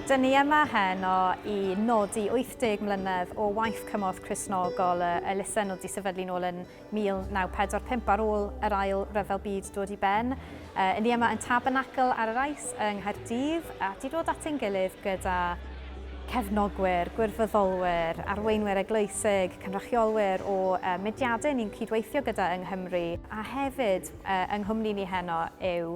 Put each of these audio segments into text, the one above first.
Dyn ni yma heno i nodi 80 mlynedd o waith cymorth Cristnogol y elusen oedd 'di sefydlu nôl yn 1945 ar ôl yr Ail Ryfel Byd dod i ben. Yy, 'yn ni yma yn Tabernacl ar yr Ice yng Nghaerdydd a 'di dod at ein gilydd gyda cefnogwyr, gwirfoddolwyr, arweinwyr eglwysig, cynrychiolwyr o yy mudiadau ni'n cydweithio gyda yng Nghymru a hefyd yy yng nghwmni ni heno yw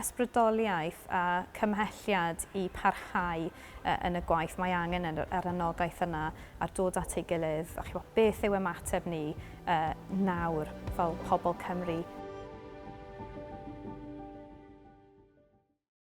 ysbrydoliaeth a chymhelliad i parhau yn y gwaith, mae angen yr anogaeth yna a'r dod at ei gilydd, a chibod, beth yw ymateb ni nawr fel pobl Cymru?